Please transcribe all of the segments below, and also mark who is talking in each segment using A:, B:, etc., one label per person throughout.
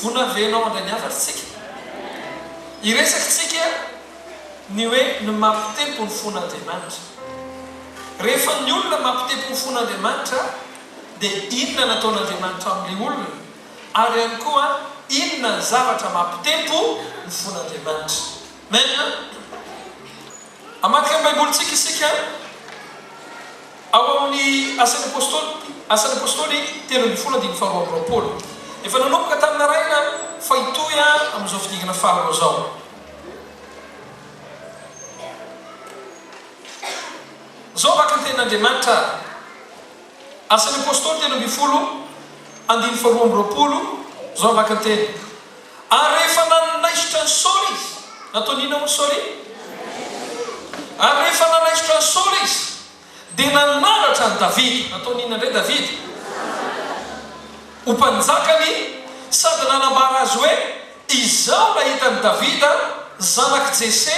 A: Vonona ve ianao handray ny hafatr'tsika? Hiresaka isika ny hoe ny maha mpitempo ny fon'Andriamanitra. Rehefa ny olona maha mpitempo ny fon'Andriamanitra dia inona ny ataon'Andriamanitra amin'ilay olona? Ary ihany koa inona ny zavatra maha mpitempo ny fon'Andriamanitra? Amen! Hamadika ny Baibolintsika isika ao amin'ny Asan'ny Apôstôly, Asan'ny Apôstôly telo ambin'ny folo andininy faharoa amby roapolo. Efa nanomboka tamin'ny naraina fa hitohy amin'izao fidingana faharoa izao. Izao vaky ny Tenin'Andriamanitra. Asan' ny Apôstôly telo ambin'ny folo, andininy faharoa amby roapolo, izao hamaky ny teny, Ary rehefa nanaisotra an'i Saoly izy, nataony inona hono Saoly? Ary rehefa nanaisotra an'i Saoly izy, dia nanandratra an'i Davida, nataony inona indray Davida? ho mpanjakany, sady nanambara azy hoe, Izao nahita an'i Davida, zanak'i Jese,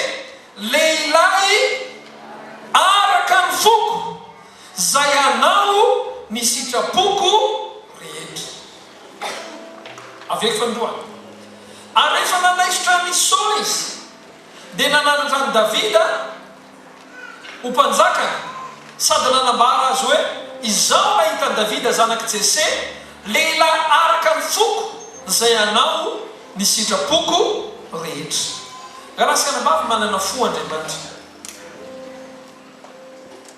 A: lehilahy araka ny foko, Izay anao ny sitrapoko rehetra. Avy eo fanindroany. Ary rehefa nanaisotra an' i Saoly izy, dia nananatra an'i Davida ho mpanjakany, sady nanambara azy hoe, Izaho nahita an'i Davida zanak'i Jese, lehilahy araka ny foko, izay anao ny sitrapoko rehetra. Rahalahy sy anabavy manana fo Andriamanitra.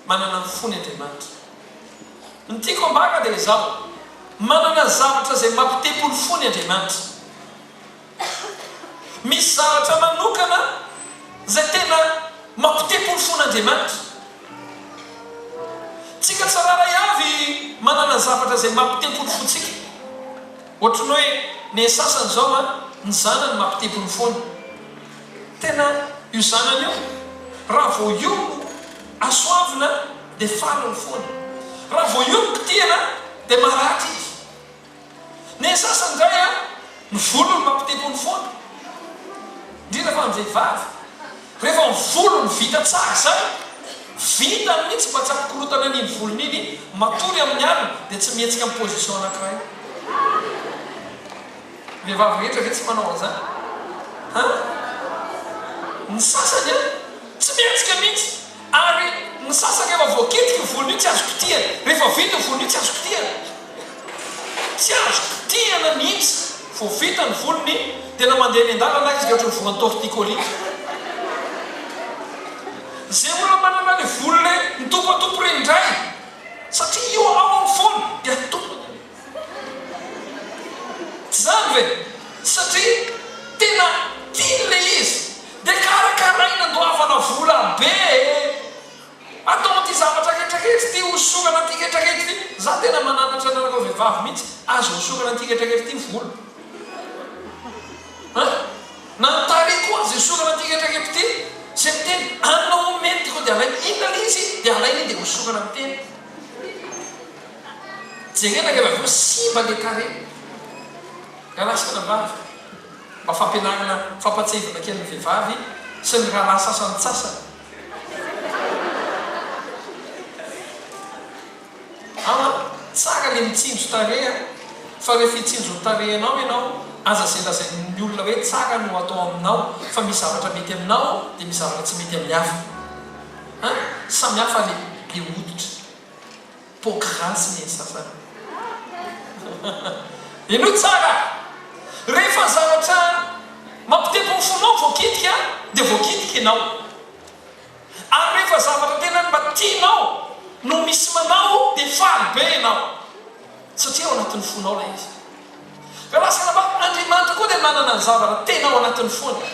A: Manana ny fony Andriamanitra. Ny tiako ambara dia izao, manana zavatra izay mampitempo ny fony Andriamanitra. Misy zavatra manokana izay tena mampitempo ny fon'Andriamanitra. Tsika tsirairay avy manana zavatra izay mampitempo ny fontsika. Ohatry ny hoe ny sasany izao an, ny zanany mampitempo ny fony. Tena io zanany io raha vao io no asoavina dia farany foana. Raha vao io no kitihana dia maratra izy. Ny sasany indray an, ny volony no mampitebony foana. Indrindra fa ny vehivavy. Rehefa ny volony vita tsara izay, vintany mihitsy mba tsy ampikorotana an'iny volony iny, matory amin'ny alina dia tsy mihetsika amin'ny position anankiray. Vehivavy rehetra ve tsy manao an'izany? An? Ny sasany an, tsy mihetsika mihitsy. Ary ny sasany rehefa voakitika ny volony iny tsy azo kitihana. Rehefa vita io volony io tsy azo kitihana. Tsy azo kitihana mihitsy. Vao vita ny volony dia na mandeha eny an-dalana aza izy dia ohatry ny voan'ny torticolis. Izay olona manana ilay volo ilay mitompatompy ireny indray satria io ao amin'ny fony dia tompony. Tsy zany ve? Satria tena tiany le izy de karakaraina andoavana vola be e! Atao an'ity zavatra ketraketra ity hosorana an'ity ketraketra ity, za tena mananatra anareo vehivavy mihitsy aza hosorana an'ity ketraketra ity ny volo an! Na ny tarehy koa aza hosorana an'ity ketraketra ity, ze miteny anona omeny ty ko de alainy, inona le izy? de alainy iny de hosorana ny tena. Jerena ilay lavoro simba le carré rahalahy sy ranabavy mba fampianarana fampatsahivana kely ny vehivavy sy ny rahalahy sasantsasany aa tsara le mitsinjo tarehy a fa rehefa hitsinjo ny tarehinao ianao aza ze lazain'ny olona hoe tsara no atao aminao fa misy zavatra mety aminao de misy zavatra tsy mety amin'ny hafa an samihafa le le hoditra. Poky ratsy ny sasany. Henoy tsara a! Rehefa zavatra mampitempo ny fonao voakitika dia voakitika ianao. Ary rehefa zavatra tena mba tianao no misy manao dia faly be ianao satria ao anatin'ny fonao ilay izy. Ka lasa namaly, Andriamanitra koa dia nanana ny zavatra tena ao anatiny foana.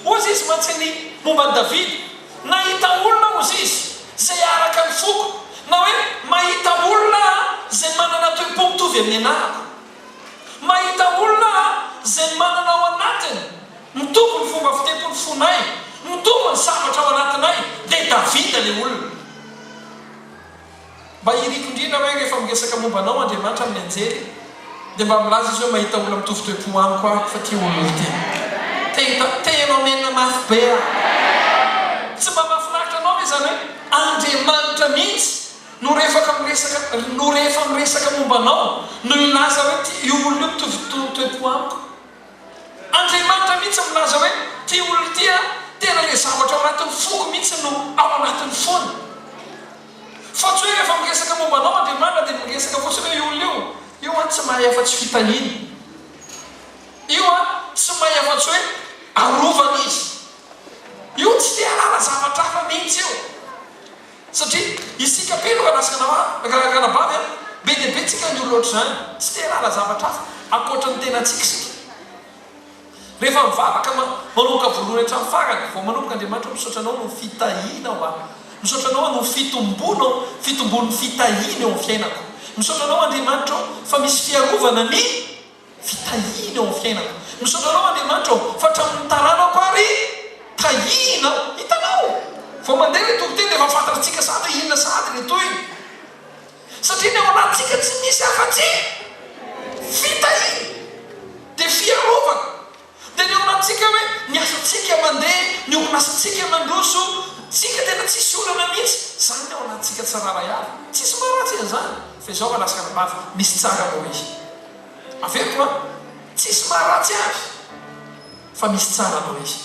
A: Hozy izy mantsy ny momba an'i Davida, Nahita olona hozy izy izay araka ny foko, na hoe mahita olona aho izay manana toe-po mitovy amin'ny anarako. Mahita olona aho izay manana ao anatiny, mitovy ny fomba fitepo ny fonay, mitovy ny zavatra ao anatinay, dia Davida ilay olona. Mba iriko indrindra hoe rehefa miresaka momba anao Andriamanitra amin'ny anjely dia mba milaza izy hoe mahita olona mitovy toe-po amiko aho fa tia olona olon-teny. Te hita, te hianao menina mafy be aho. Tsy mba mahafinaritra anao ve izany hoe Andriamanitra mihitsy no rehefaka miresaka, no rehefa miresaka momba anao no hilaza hoe tia io olona io mitovy toe-po amiko? Andriamanitra mihitsy milaza hoe ity olona ity aho, tena ilay zavatra ao anatin'ny foko mihitsy no ao anatiny foana. Fa tsy hoe rehefa miresaka momba anao Andriamanitra dia miresaka fotsiny hoe io olona io, io an tsy mahay afa-tsy fitahiana, io an tsy mahay afa-tsy hoe arovana izy, io tsy te-hahalala zavatra hafa mihitsy io. Satria isika be no manasana maro, rangahy anabavy a! Be dia be tsika ny olona ohatr'izany, tsy te hanala zavatra hafa ankoatra ny tenantsika isika. Rehefa mivavaka, manomboka voalohany hatramin'ny farany, vao manomboka Andriamanitra ô misaotra Anao noho ny fitahianao ahy, misaotra Anao noho ny fitombonao, fitombon'ny fitahiany eo amin'ny fiainako, misaotra Anao Andriamanitra ô fa misy fiarovana ny. Tsy tahiana eo amin'ny fiainako. Misaotra anao Andriamanitra ô fa hatramin'ny taranako ary tahiana aho. Hitanao? Vao mandeha ilay toko teny dia efa fantatr'tsika sahady hoe inona sahady ilay tohiny. Satria ny ao anatintsika tsy misy afa-tsy fitahiana. Dia fiarovana. Dia ny olantsika hoe ny asantsika mandeha, ny orinasantsika mandroso, tsika tena tsisy olana mihitsy, zany ny ao anatintsika tsirairay avy, tsisy maharatsy an'izany, fa izao raha laskana mafy, misy tsara moa ve? Averiko an! Tsisy maharatsy avy, fa misy tsara noho izy.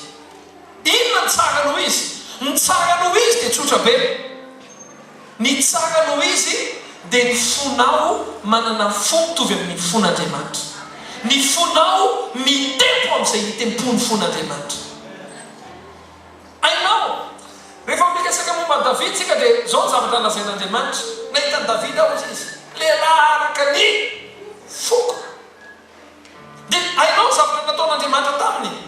A: Inona ny tsara noho izy? Ny tsara noho izy dia tsotra be. Ny tsara noho izy dia ny fonao manana fo mitovy amin'ny fon'Andriamanitra. Ny fonao mitempo amin'izay itempoan'ny fon'Andriamanitra. Hainao, rehefa miresaka momba an'i Davida isika dia izao ny zavatra lazain'Andriamanitra, Nahita an'i Davida aho, hoy Izy, lehilahy araka ny foko. Dia hainao ny zavatra nataon'Andriamanitra taminy?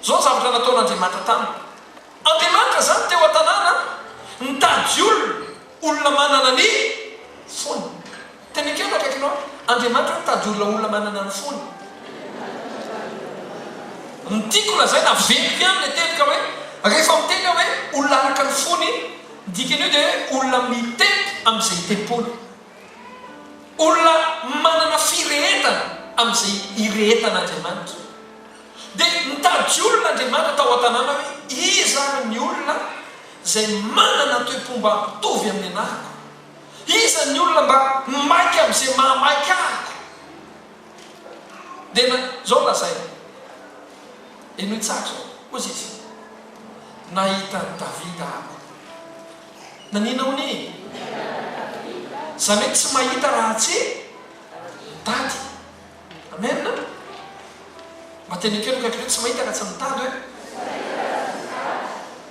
A: Izao ny zavatra nataon'Andriamanitra taminy. Andriamanitra izany teo an-tanàna nitady olona, olona manana ny fony. Tena ekeo ny akaikinao hoe, Andriamanitra hoy mitady olona, olona manana ny fony. Ny tiako lazaina, averiko ihany ilay teboka hoe, rehefa miteny aho hoe olona araka ny fony, ny dikan'io dia hoe olona mitempo amin'izay itempoana. Olona manana firehetana amin'izay irehetan'Andriamanitra. Dia nitady olona Andriamanitra tao an-tanàna hoe, Iza ary ny olona izay manana toe-pomba mitovy amin'ny anahiko? Iza ny olona mba maika amin'izay mahamaika ahiko? Dia na, izao lazainy. Henoy tsara izao. Hoy izy, Nahita an'i Davida aho. Nanina ho ny? Za mety tsy mahita raha tsy mitady. Amen? Mba teny ekeo ny akaikinao hoe tsy mahita raha tsy mitady hoe.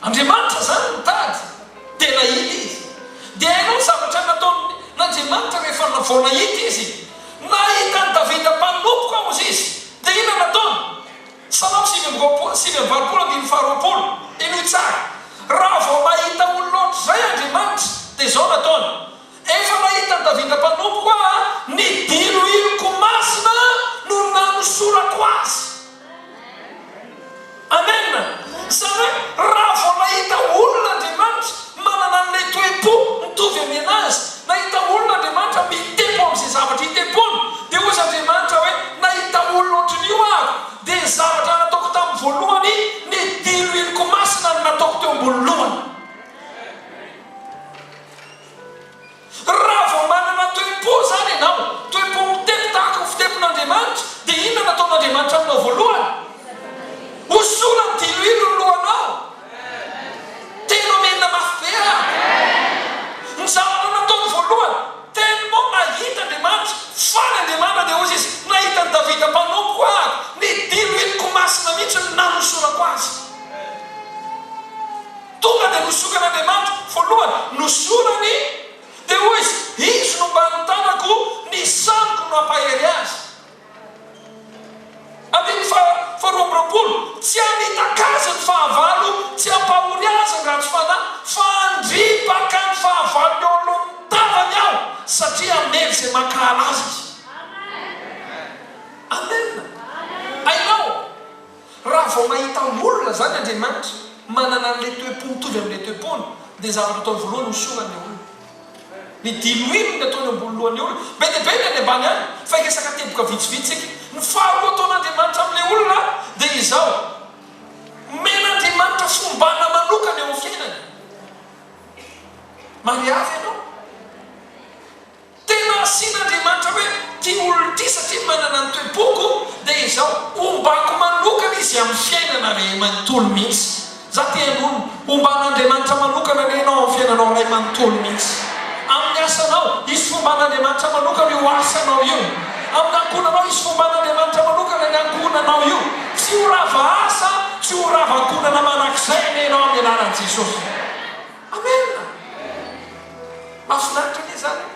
A: Andriamanitra zany mitady dia nahita izy. Dia hainao ny zavatra nataon'Andriamanitra rehefa vao nahita izy? Nahita an'i Davida mpanompoko aho hozy izy. Dia inona nataony? Salamo sivy amby roapolo, sivy amby valopolo andininy faharoapolo, Henoy tsara, Raha vao nahita olona ohatr'izay Andriamanitra, dia izao nataony, Efa nahitan'i Davida mpanompoko aho, ny diloiloko masina no nanosorako azy. Amen! Izany hoe, raha vao nahita olona Andriamanitra, Manana an'ilay toe-po mitovy amin'ny an'azy. Nahita olona Andriamanitra mite-po amin'izay zavatra ite-pony. Dia hoy izy Andriamanitra hoe, Nahita olona ohatran'io aho. Dia ny zavatra nataoko tamin'ny voalohany, ny diloiloko masina no nataoko teo ambony lohany. Raha vao manana toe-po izany ianao, toe-po mitety tahaka ny fitempon'Andriamanitra, dia inona no ataon'Andriamanitra aminao voalohany? Hosorany diloilo ny lohanao. Tena omenina mafy be an! Ny zavatra nataony voalohany, tellement nahita Andriamanitra, faly Andriamanitra, dia hozy izy, nahita an'i Davida mpanompo aho, ny diloiloko masina mihitsy no nanosorako azy. Tonga dia nosiokan'Andriamanitra voalohany no sorany, dia hoy Izy, Izy no mba nitanako ny saniko no hampahery azy. Andininy faha faharoa amby roapolo, Tsy hamitaka azy ny fahavalo, tsy hampahory azy ny ratsy fanahy, fa handripaka ny fahavalony eo anoloan'ny tavany Aho, satria hamely izay mankahala azy Izy. Amen! Hainao? Raha vao mahita olona izany Andriamanitra manana an'ilay toe-po mitovy amin'ilay toe-pony, dia ny zavatra ataony voalohany hosorany ny olona. Ny diloilo no ataony eo ambony lohan'ny olona. Be dia be ny any ambany any, fa hiresaka teboka vitsivitsy isika. Ny faharoa ataon'Andriamanitra amin'ilay olona dia izao, Omen'Andriamanitra fombana manokana eo amin'ny fiainany. Mariavy ianao. Tena asian'Andriamanitra hoe ity olona ity satria manana ny toe-poko dia izaho hombako manokana izy amin'ny fiainana ray manontolo mihitsy. Izaho te hanonona, homban'Andriamanitra manokana anie ianao amin'ny fiainanao ray manontolo mihitsy. Amin'ny asanao, hisy fomban'Andriamanitra manokana io asanao io. Amin'ny ankohonanao, hisy fomban'Andriamanitra manokana ny ankohonanao io. Tsy ho rava asa, tsy ho rava ankohonana manak'izay anie ianao amin'ny anaran'i Jesosy. Amen! Mahafinaritra anie zany e!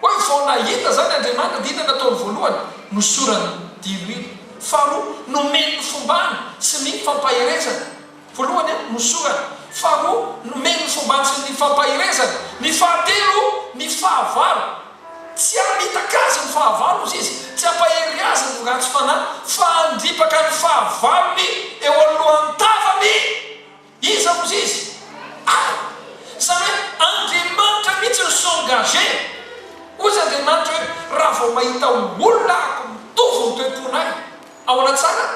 A: Hoe vao nahita zany Andriamanitra dia inona nataony voalohany? Nosorany diloilo. Faharoa, nomeny ny fombany sy ny fampaherezany. Voalohany a, nosorany. Faharoa, nomeny ny fombany sy ny fampaherezany. Ny fahatelo, ny fahavalo. Tsy hamitaka azy ny fahavalo hozy izy, tsy hampahery azy ny ratsy fanahy, fa handripaka ny fahavalony eo anoloan'ny tavany. Iza ozy izy? Ary izany hoe Andriamanitra mihitsy no s'engage ozy Andriamanitra hoe raha vao mahita olona ahako mitovy ny toe-ponay ao anaty zanany.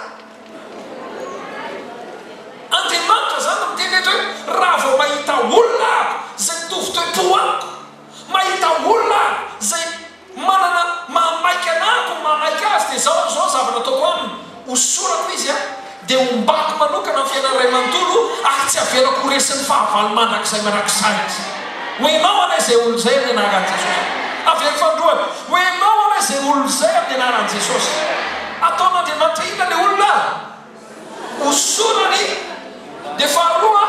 A: Andriamanitra izany no miteny eto hoe raha vao mahita olona ahako izay mitovy toe-po amiko, mahita olona aho izay. Manana maha maika anah ko maha maika azy dia zao zao zavatra ataoko aminy, hosorako izy a, dia hombako manokana ny fiainany ray manontolo ary tsy avelako ho resin'ny fahavalo mandrakizay mandrakizay izy. Ho enao anie izay olona izay amin'ny anaran'i Jesosy. Avela fandroana. Ho enao anie izay olona izay amin'ny anaran'i Jesosy. Ataon'Andriamanitra inona le olona? ho sorany dia faharoa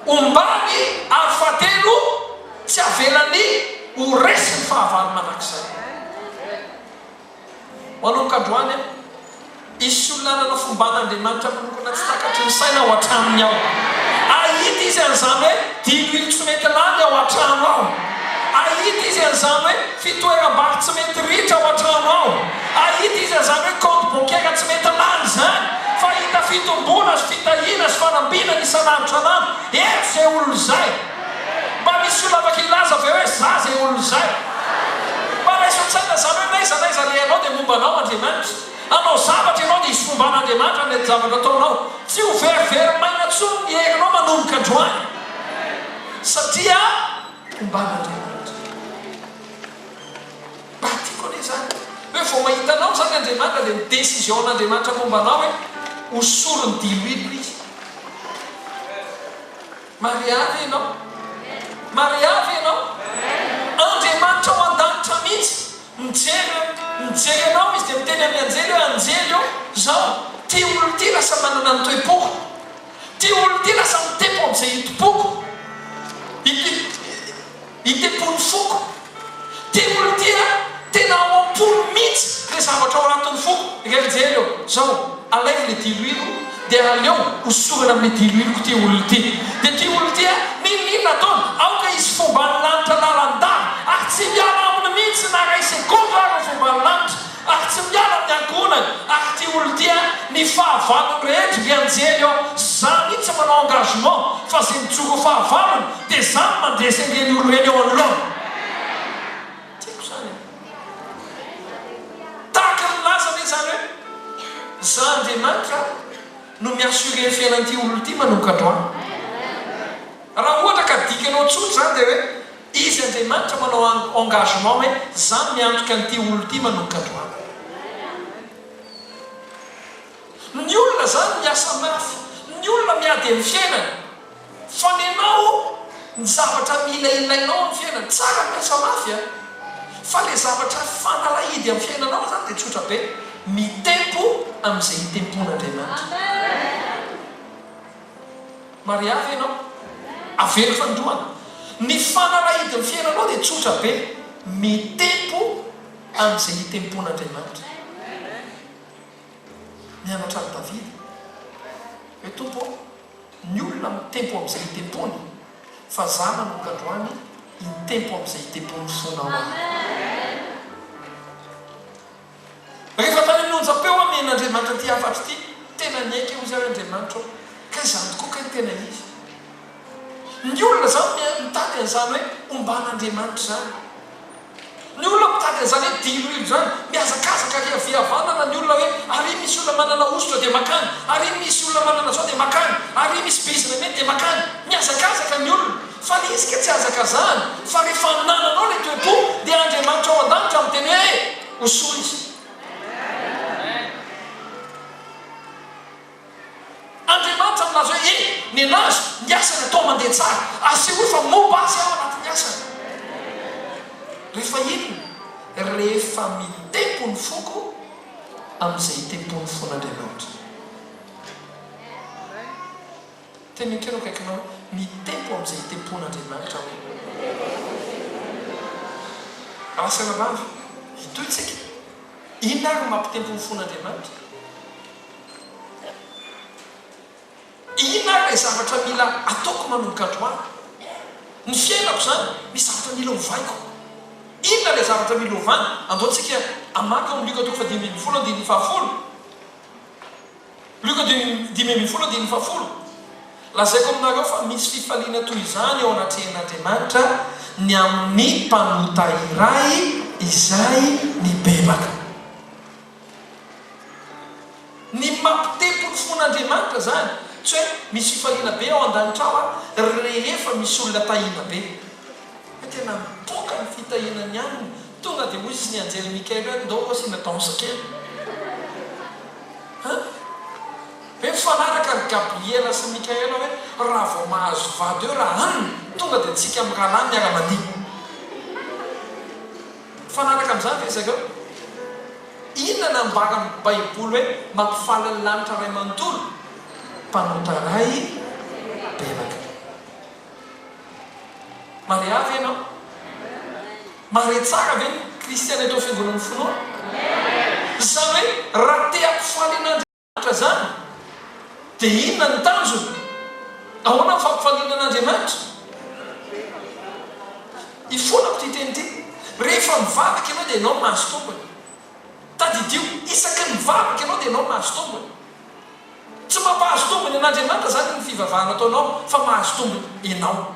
A: ombany ary fahatelo tsy avelany ho resiny fahavalo mandrakizay ho anao ka androany an hisy olona hanana fomban'Andriamanitra manokana tsy takatry ny saina ao an-tranony ao ahita izy an'izany hoe dilo intsy mety lany ao an-trano ao ahita izy an'izany hoe Fitoeram-bary tsy mety ritra ao an-trano ao. Ahita izy an'izany hoe kaonty bankiera tsy mety lany izany, fa hahita fitomboana sy fitahiana sy fanambinana isan'andro isan'andro eto izay olona izay. Mba misy olona afaka hilaza ve hoe za izay olona izay? Mba raiso an-tsaina izany hoe n'aiza n'aiza alehanao dia momba anao Andriamanitra. Hanao zavatra ianao dia hisy momba an'Andriamanitra ny zavatra ataonao. Tsy ho verivery maina intsony ny herinao manomboka androany. Satria. Ombana Andriamanitra. Mba tiako anie zany hoe vao mahita anao zany Andriamanitra dia ny décision n'Andriamanitra momba anao hoe ho sorony diloilo izy. Maria ve ianao? Maria ve ianao? Andriamanitra ao an-danitra mihitsy mijery hoe mijery anao izy dia miteny amin'ny anjely hoe anjely ô zao ty olona ty lasa manana ny toe-poko. Ty olona ty lasa mitempo amin'izay itompoako, itempon'ny foko. Ty olona ty an, tena ao am-pony mihitsy le zavatra ao anatin'ny foko. Ingahy mijery eo, zao, alaivo le diloilo dia aleo hosorana amin'ny diloiloko ty olona ty. Dia ty olona ty an, n'inon'inona ataony, aoka hisy fomban'ny lanitra lalandava ary tsy hiala aminy mihitsy na iray segondra ary ny fomban'ny lanitra. Ary tsy miala ny ankohonany ary ity olona ity a, ny fahavalony rehetra ry anjely ô, za mihitsy manao engagement fa ze mijoro ho fahavalony de za no mandresy an'ireny olona ireny eo anoloany. Tiako zany e. Tahaka ny nilaza anie zareo, za Andriamanitra no mi assurer ny fiainan'ity olona ity manomboka androany. Raha ohatra ka dikanao tsotra zany de hoe. Izy Andriamanitra manao engagement hoe za miantoka an'ity olona ity manomboka androany. Ny olona zany miasa mafy, ny olona miady amin'ny fiainany, fa nenao ny zavatra mila ilainao amin'ny fiainany, tsara ny miasa mafy a, fa le zavatra fanalahidy amin'ny fiainanao zany de tsotra be, mitempo amin'izay itempon'Andriamanitra. Mariahy ianao? Avelo fanindroany. Ny fanalahidin'ny fiainanao dia tsotra be, mitempo amin'izay itempon'Andriamanitra. Nianatra an'i Davida hoe, Tompo ô, ny olona mitempo amin'izay itempony, fa za manomboka androany hitempo amin'izay itempon'ny fonao aho. Rehefa tany amin'ny onjam-peo aho nihaino Andriamanitra ity hafatra ity, tena niaiky hoy izy ary Andriamanitra aho, ka izany tokoa kay no tena izy. Ny olona izany mitady an'izany hoe omban'Andriamanitra izany. Ny olona mitady an'izany hoe diloilo izany. Mihazakazaka ary hihavihavanana ny olona hoe ary misy olona manana hosotra dia makany, ary misy olona manana izao dia makany, ary misy bizina mety dia makany. Mihazakazaka ny olona. Fa le izy ka tsy hazakazahana fa rehefa nananao le toe-po dia Andriamanitra ao an-danitra miteny hoe ho soa izy. Andriamanitra milaza hoe eny, nenazy ny asany atao mandeha tsara, asehoy fa momba azy aho anatin'ny asany. Rehefa inona? Rehefa mitempo ny foko amin'izay itempoan'ny fon'Andriamanitra. Teny akelo akaikinao, mitempo amin'izay itempoan'Andriamanitra hoe. Raha asaina mafy, hitohy isika. Inona ary no mampitempo ny fon'Andriamanitra? Inona ary ilay zavatra mila ataoko manomboka androany? Ny fiainako izany, misy zavatra mila ovaiko. Inona ilay zavatra mila ovana? Andao isika hamaky ao amin'ny Lioka toko fahadimy ambin'ny folo, andininy fahafolo. Lioka dimy, dimy ambin'ny folo andininy fahafolo, Lazaiko aminareo fa misy fifaliana toy izany eo anatrehan'Andriamanitra ny amin'ny mpanota iray izay mibebaka. Ny mampitempo ny fon'Andriamanitra izany, tsy hoe misy fifaliana be ao an-danitra ao aho rehefa misy olona tahiana be. Fa tena mipoka ny fitahiana ny alina. Tonga dia hoy ny anjely Mikaela hoe, Ndao aloha asiana danse kely. An! Ve mifanaraka ry Gabriela sy Mikaela hoe, Raha vao mahazo vady eo ra an! Tonga dia antsika mirahalahy miara-mandihy. Mifanaraka amin'izany ve zareo? Inona no ambaran'ny Baiboly hoe mampifaly ny lanitra ray manontolo? Mpanota ray belaka. Maria ve ianao? Mahare tsara ve ny kristiana eto amin'ny fiangonan'ny finoana? Izany hoe raha te hampifaly an'Andriamanitra izany dia inona ny tanjona? Ahoana ny fampifaliana an'Andriamanitra? Ifolako ity teny ity, rehefa mivavaka ianao dia ianao no mahazo tombony. Tadidio, isaky ny mivavaka ianao dia ianao no mahazo tombony. Tsy mampahazo tombony an'Andriamanitra izany ny fivavahana ataonao fa mahazo tombony ianao.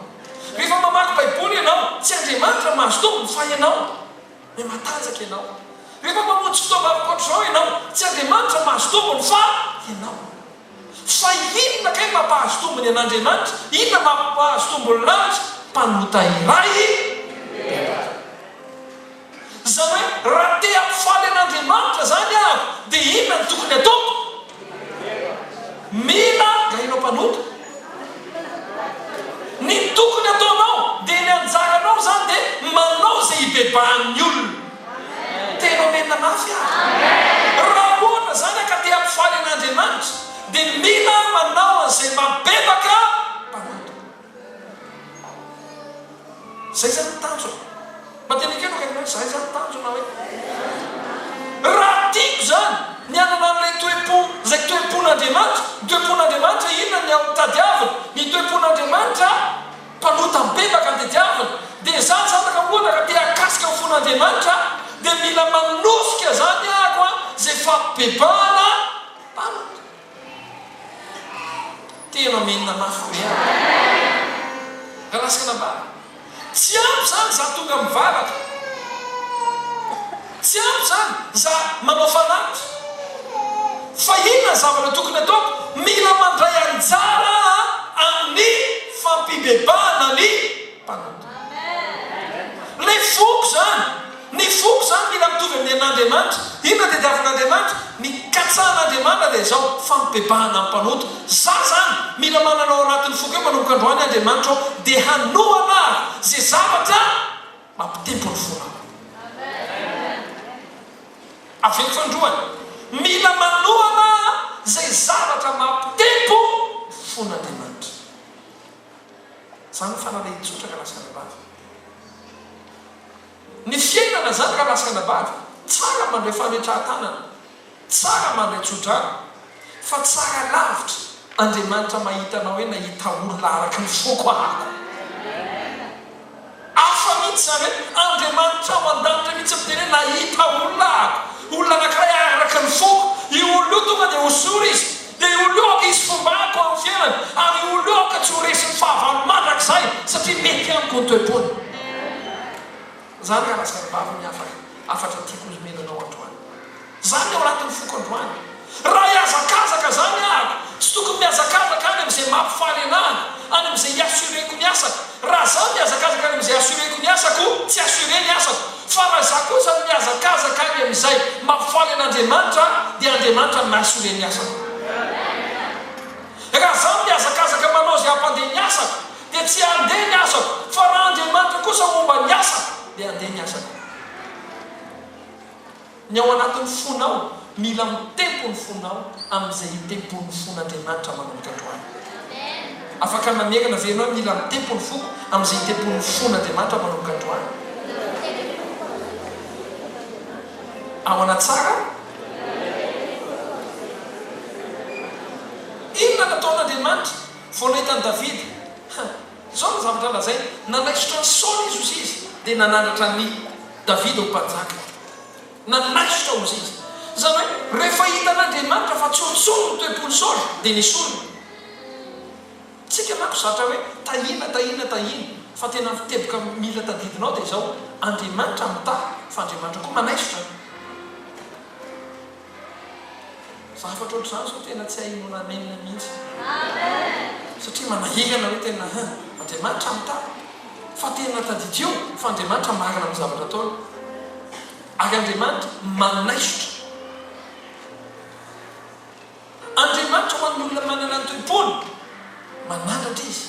A: Rehefa mamaky Baiboly ianao, tsy Andriamanitra no mahazo tombony fa ianao. Hoe matanjaka ianao. Rehefa mamonjy fotoana ankoatr'izao ianao, tsy Andriamanitra no mahazo tombony fa ianao. Fa inona kay no mampahazo tombony an'Andriamanitra? Inona mampahazo tombony lanitra? Mpanota iray. Izany hoe raha te hampifaly an'Andriamanitra izany aho dia inona no tokony hataoko? Mila gaina mpanota. Ny tokony hataonao dia ny anjaranao izany dia manao izay hibebahan'ny olona. Telo amena mafy aho. Raha ohatra izany ka te hampifaly an'Andriamanitra dia mila manao an'izay mampibebaka mpanota. Zay zany ny tanjona. Mba tena ekeno Akaniny hoe zay zany ny tanjona hoe. Raha tiako zany ny hanana an'ilay toe-po, izay toe-pon'Andriamanitra, ny toe-pon'Andriamanitra inona ny ao tadiavina, ny toe-pon'Andriamanitra mpanota bebaka ny tadiaviny, dia za zany raha ohatra ka te hakasika ny fon'Andriamanitra dia mila manosika zany aho a, zay fabebahana mpanota. Tena Amen mafy be a! Nga lasana ambany. Tsy ampy izany za tonga mivavaka. Tsy ampy izany za manao fanaty. Fa inona ny zavatra tokony ataoko? Mila mandray anjara amin'ny fampibebahana ny mpanota. Ilay foko izany. Ny foko izany mila mitovy amin'ny an'Andriamanitra. Inona tadiavin'Andriamanitra? Ny katsahan'Andriamanitra dia izao, fampibebahana ny mpanota. Zah izany, mila manana ao anatin'ny foko eo manomboka androany Andriamanitra aho, dia hanohana ary izay zavatra mampitempo ny fonao. Avela fa androany, mila manohana izay zavatra mampitempo ny fon'Andriamanitra. Izany ny fanalahidin-tsotra ka lasa ara-bava. Ny fiainana zany ka lasaka nabavy, tsara mandray fametraha-tanana, tsara mandray tsodrano, fa tsara lavitra, Andriamanitra mahita anao eny ahita olona araka ny foko ahako. Hafa mihitsy zany hoe Andriamanitra ao andanitra mihitsy miteny hoe nahita olona ahako, olona anakiray araka ny foko, io olona io tonga dia hosory izy, Dia ho leoka izy fombako amin'ny fiainany, ary ho leoka tsy ho resin'ny fahavalo mandrakizay, satria mety amiko ny toe-pony. Zany ka razambavy ny hafa hafatra tiako nomena anao androany. Zany ny ao anatin'ny foko androany. Raha hihazakazaka zany ahako, tsy tokony mihazakazaka any amin'izay mampifaly anahy, any amin'izay i-assurer-ko ny asako. Raha za mihazakazaka any amin'izay assurer-ko ny asako, tsy assurer ny asako. Fa raha izaho kosa no mihazakazaka any amin'izay mampifaly an'Andriamanitra aho, dia Andriamanitra no nahasoa ireny asako. Raha izaho no mihazakazaka manao izay hampandeha ny asako, dia tsy handeha ny asako, fa raha Andriamanitra kosa momba ny asako, dia handeha ny asako. Ny ao anatin'ny fonao, mila mitempo ny fonao amin'izay itempon'ny fon'Andriamanitra manomboka androany. Afaka mamerina ve ianao hoe mila mitempo ny foko amin'izay itempon'ny fon'Andriamanitra manomboka androany? Ahoana tsara? Inona nataon'Andriamanitra vao nahita an'i Davida? Izao no zavatra lazainy, Nanaisotra an'i Saoly i Zosizy, dia nanandratra an'i Davida ho mpanjaka. Nanaisotra Ozizy. Izany hoe, rehefa hitan'Andriamanitra fa tsy ho ntsony ny toe-pon'i Saoly, dia nesoriny. Tsika manko zatra hoe, tahiana, tahiana, tahiana. Fa tena ny teboka mila tadidina ao dia izao, Andriamanitra mitahy, fa Andriamanitra koa manaisotra. Zavatra ohatr'izany izao tena tsy hay inoana Amen mihitsy. Satria manahirana hoe tena hein, Andriamanitra mitana. Fa tena tadidio fa Andriamanitra marina amin'ny zavatra ataony. Ary Andriamanitra manaisotra. Andriamanitra ho an'ny olona manana ny toe-pony, mananatra Izy.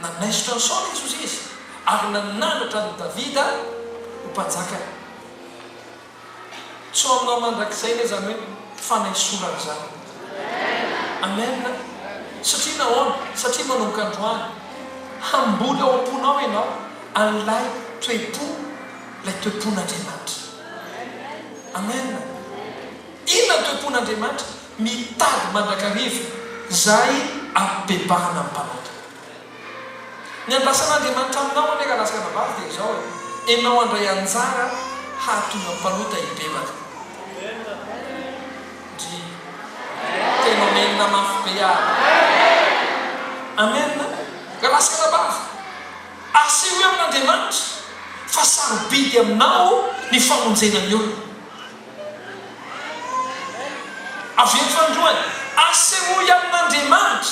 A: Nanaisotra an'i Saoly Jesosy Izy ary nananatra an'i Davida ho mpanjakany. Tsy aminao mandrakizay ve izany hoe fanaisorana izany? Amen! Satria nahoana? Satria manomboka androany, hamboly ao am-ponao ianao an'ilay toe-po, ilay toe-pon'Andriamanitra. Amen! Inona ny toe-pon'Andriamanitra? Mitady mandrakariva izay abebahana ny mpanota. Ny andrasan'Andriamanitra aminao anie rahalahy sy ranabavy dia izao e, enao handray anjara hahatonga ny mpanota hibebaka. Ndry. Tena Amen mafy be ah. Amen a. Rahalahy sy ranabavy, asehoy amin'Andriamanitra fa sarobidy aminao ny famonjena ny olona. Avy eto androany, asehoy amin'Andriamanitra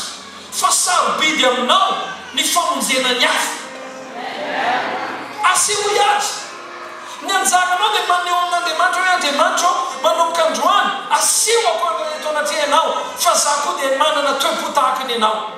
A: fa sarobidy aminao ny famonjena ny hafa. Asehoy Azy. Ny anjaranao dia maneho amin'Andriamanitra hoe, Andriamanitra ô, manomboka androany, asehoako eto anatrehanao fa za koa dia manana toe-po tahaka ny anao.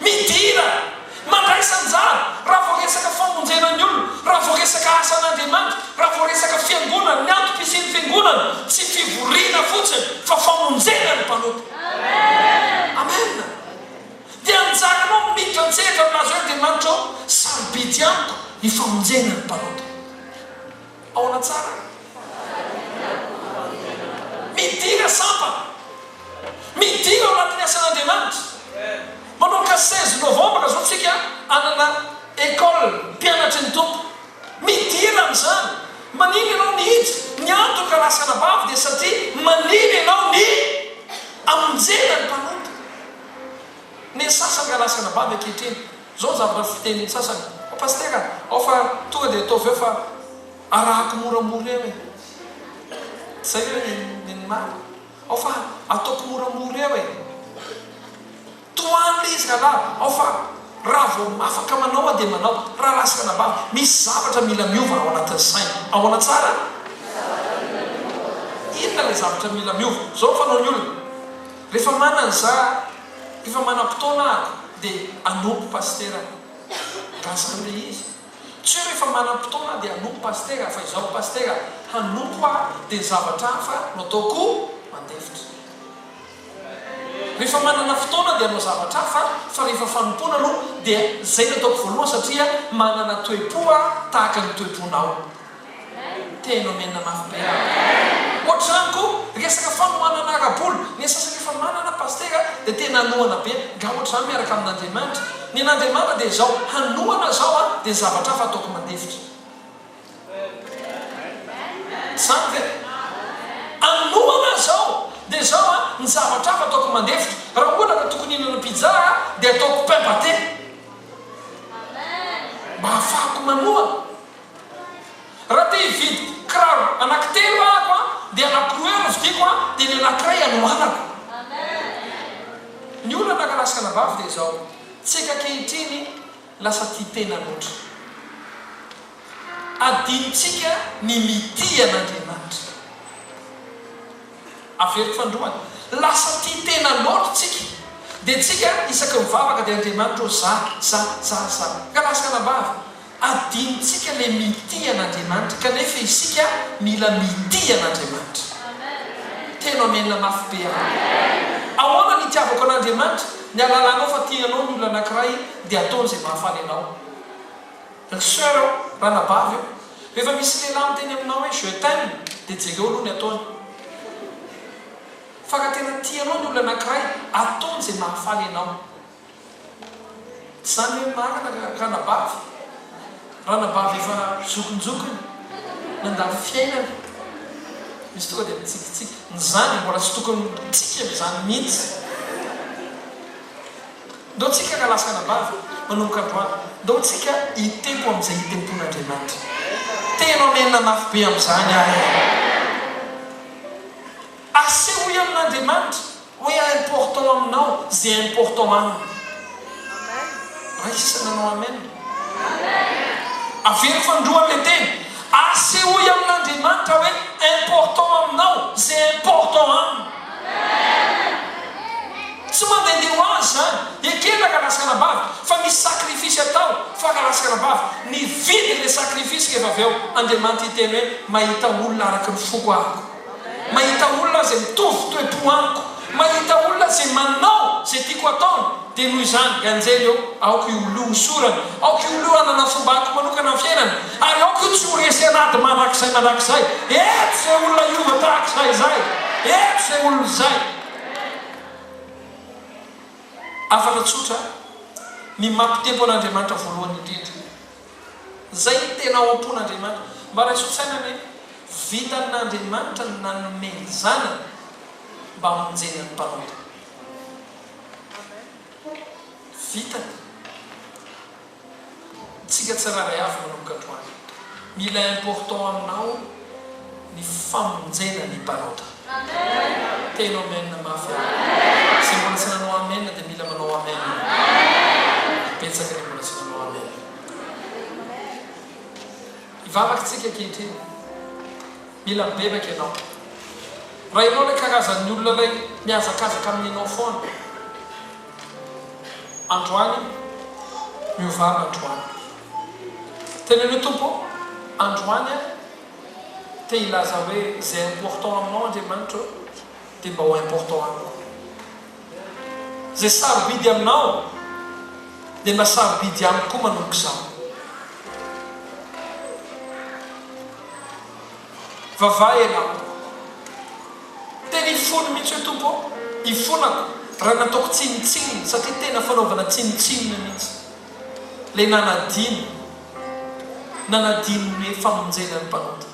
A: Midira, mandraisa anjara raha vao resaka famonjena ny olona, raha vao resaka asan'Andriamanitra, raha vao resaka fiangonana, ny antom-pisian'ny fiangonana, tsy fivoriana fotsiny fa famonjena ny mpanompo. Amena. Dia anjaranao miditra an-tsehatra milaza hoe Andriamanitra ô, sarobidy amiko ny famonjena ny mpanompo. Ahoana tsara? Midina sampana. Midina ao anatin'ny asan'Andriamanitra. Manomboka seize novembre izao tsika hanana école mpianatry ny Tompo. Midina amin'izany. Manina ianao ny hija, ny antoka lahy sy anabavy dia satria manina ianao ny hamonjena ny mpanompo. Ny sasany nga lahy sy anabavy ankehitriny. Zao ny zavatra fiteny ny sasany, fa Pasitera ao fa tonga dia ataovy eo fa arahako moramora eo e! Zay ve ny ny marina? Ao fa ataoko moramora eo e! Tohano le izy rahalahy, ao fa raha vao afaka manao aho dia manao, raha ratsy fanavahana. Misy zavatra mila miova ao anatin'ny saina. Ahoana tsara? Inona le zavatra mila miova? Zao ny fanaon'ny olona, refa manana za, Efa manam-potoana aho dia hanompo pasitera aho. Nga zany le izy? Tsy hoe rehefa manam-potoana aho dia hanompo pasitera fa izaho pasitera hanompo aho dia zavatra hafa no ataoko mandefitra. Rehefa manana fotoana dia hanao zavatra hafa fa rehefa fanompoana aloha dia zay no ataoko voalohany satria manana toe-po aho tahaka ny toe-ponao. Tena omenina mafy be aho. Ohatr'izany koa resaka fanohanana ara-bola, ny an'ny sasany efa manana pasitera dia tena anohana be, nga ohatr'izany miaraka amin'Andriamanitra? Ny an'Andriamanitra dia izao, hanohana zao an, dia ny zavatra hafa ataoko mandefitra. Tsy zany ve? Anohana zao, dia zao an, ny zavatra hafa ataoko mandefitra. Raha ohatra ka tokony hihinana pizza aho, dia ataoko pain pate. Mba hahafahako manohana. Raha te hividy kiraro anaky telo ahako an dia anaky roa eo no vidiko an dia ny anakiray anohanako. Ny olana ankalaska anabavy dia izao tsika ankehitriny lasa tia tena loatra. Adinontsika ny mitia an'Andriamanitra. Averiko fandroana, lasa tia tena loatra tsika dia tsika isaka mivavaka dia Andriamanitra ô za, za, za, za. Ankalaska anabavy. Adinontsika le mitia an'Andriamanitra kanefa isika mila mitia an'Andriamanitra. Teno Amena mafy be amiko. Ahoana ny itiavako an'Andriamanitra? Ny alalanao fa tia anao ny olona anakiray dia ataony izay mahafaly anao. Ry soeur ô, ranabavy ô, rehefa misy lehilahy miteny aminao hoe je t'aime dia jereo aloha ny ataony. Fa raha tena tia anao ny olona anakiray, ataony izay mahafaly anao. Zany ve marina ka ranabavy? Ranabavy efa zokinjokiny nandany fiainany misy tonga dia mitsikitsiky ny zany mbola tsy tokony mitsiky an'izany mihitsy. Ndao tsika ka lasa anabavy manomboka androany, ndao tsika hitempo amin'izay hitempon'Andriamanitra. Tena omenina mafy be amin'izany aho e! Asehoy amin'Andriamanitra Hoe important aminao ze important aminy. Raha isa nanao amen. Avelo fa ndroa le teny. Asehoy amin'Andriamanitra hoe important aminao ze important aminy. Tsy mandehandeha ho azy zany. Ekena ka lasa anabavy fa misy sacrifice atao fa ka lasa anabavy. Nividy le sacrifice rehefa avy eo Andriamanitra hiteny hoe mahita olona araky ny foko aho. Mahita olona izay mitovy toe-po amiko. Mahita olona izay manao izay tiako hataony. Dia noho izany, i anjely eo, aoka io olio ho sorany. Aoka io olio hanana fombako manokana amin'ny fiainany. Ary aoka io tsy ho resy an'ady mandrakizay mandrakizay. Eto izay olona hiova tahaka izaho izay. Eto izay olona izay. Hafatra tsotra, Ny maha mpitempo an'Andriamanitra voalohany indrindra. Izay no tena ao am-pon'Andriamanitra. Mba raiso saina anie, vitan'Andriamanitra ny nanome ny Zanany mba hamonjena ny mpanao ireny. Vitany. Isika tsirairay avy manomboka androany. Mila important aminao. ny famonjena ny mpanota. Teno amen mafy aho. Izay mbola tsy nanao amen dia mila manao amen. Ary betsaka ny mbola tsy nanao amen. Hivavaka tsika ankehitriny. Mila mibebaka ianao. Raha ianao ilay karazan'ny olona ilay mihazakazaka amin'inao foana. Androany miovana androany. Teneno Tompo androany aho te hilaza hoe izay important aminao Andriamanitra ô dia mba ho important amiko koa. Izay sarobidy aminao dia mba sarobidy amiko koa manomboka izao. Vavaha ianao. Tena hifona mihitsy hoe Tompo ô, hifonako raha nataoko tsinontsinona, satria tena fanaovana tsinontsinona mihitsy ilay nanadino. nanadino ny famonjena ny mpanota.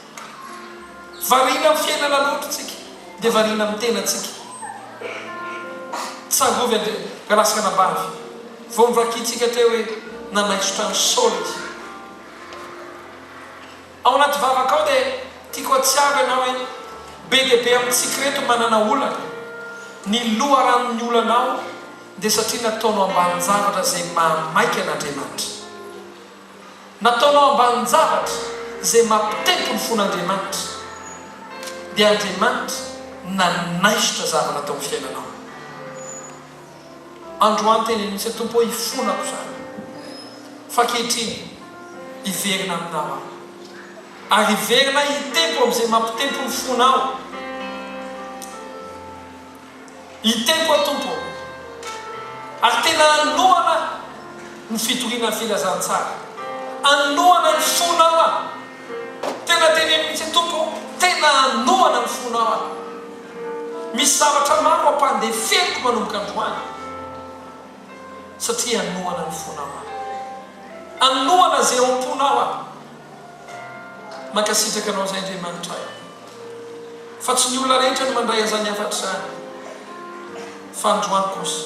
A: Variana amin'ny fiainana loatra isika dia variana amin'ny tenantsika. Tsangovy anie ka lasa anabavy vao novakintsika teo hoe nanaisotra an'i Saoly dia. Ao anaty vavaka ao dia tiako hatsiaro ianao hoe be dia be amintsika ireto manana olana. Ny loharanon'ny olanao. dia satria nataonao ambanin-javatra izay mahamaika an'Andriamanitra. Nataonao ambanin-javatra izay mampitempo ny fon'Andriamanitra. Dia Andriamanitra nanaisotra zavatra tao amin'ny fiainanao. Androany teny Anosy, Tompo ô, ifonako izany. Fa ankehitriny, hiverina Aminao aho. Ary hiverina hitempo amin'izay mampitempo ny fonao. Ny tempo ô Tompo ô. Ary tena anohana ny fitoriana ny filazantsara. Anohana ny fonao aho. Tena teneno mihitsy Tompo ô, tena anohana ny fonao aho. Misy zavatra maro ampandeferiko manomboka androany satria anohana ny fonao aho. Anohana izay ao am-ponao aho. Mankasitraka anao izay Andriamanitra ahy fa tsy ny olona rehetra no mandray an'izany hafatra izany fa androany kosa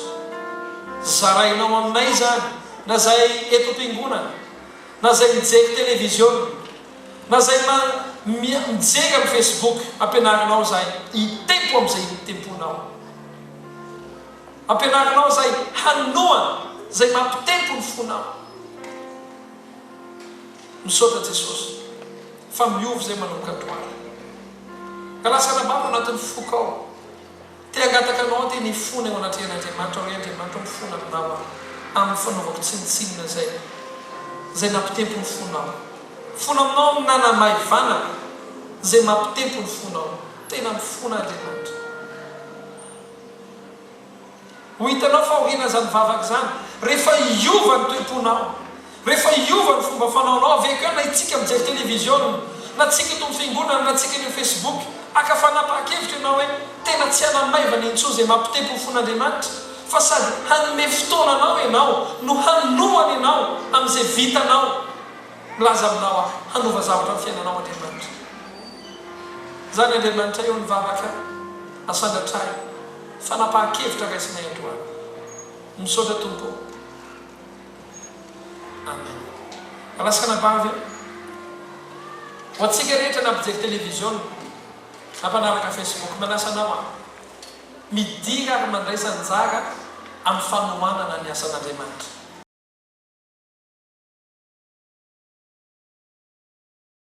A: zarainao aminay izany na izay eto am-piangonana na izay mijery televiziona na izay ma mijery amin'ny facebook ampianarinao izay hitempo amin'izay temponao ampianarinao izay hanoa izay mampitempo ny fonao Misaotra Jesosy fa miova izay manomboka androany ka lasa anabavy ao anatin'ny foko ao te hangataka anao aho te ny fona eo anatrehan' Andriamanitra hoe Andriamanitra o fona aminao aho amin'ny fanaovako tsinontsinona izay izay nampitempo ny fonao fona aminao ny nanamaivanako izay mampitempo ny fonao tena mifona Andriamanitra. Ho hitanao fa aoriana izany vavaka izany, rehefa hiova ny toe-ponao, rehefa hiova ny fomba fanaonao, avy eo koa na hitsiky mijery televiziona, na tsiky eto amin'ny fiangonana, na tsiky eny amin'ny Facebook, haka fanapahan-kevitra ianao hoe tena tsy hanany maivana intsony izay mampitepy ho fon'Andriamanitra, fa sady hanome fotoana anao ianao no hanohana ianao amin'izay vitanao. Milaza aminao aho, hanova zavatra amin'ny fiainanao Andriamanitra. Izany Andriamanitray eo ny vavaka, asandratrahy. Fanapahan-kevitra raisinay androany. Misaotra Tompo ô. Amen. Alasana ba ve? Ho antsika rehetra na mpijery televiziona na mpanaraka Facebook, manasa anao aho, midira ary mandraisa anjara amin'ny fanohanana ny asan'Andriamanitra.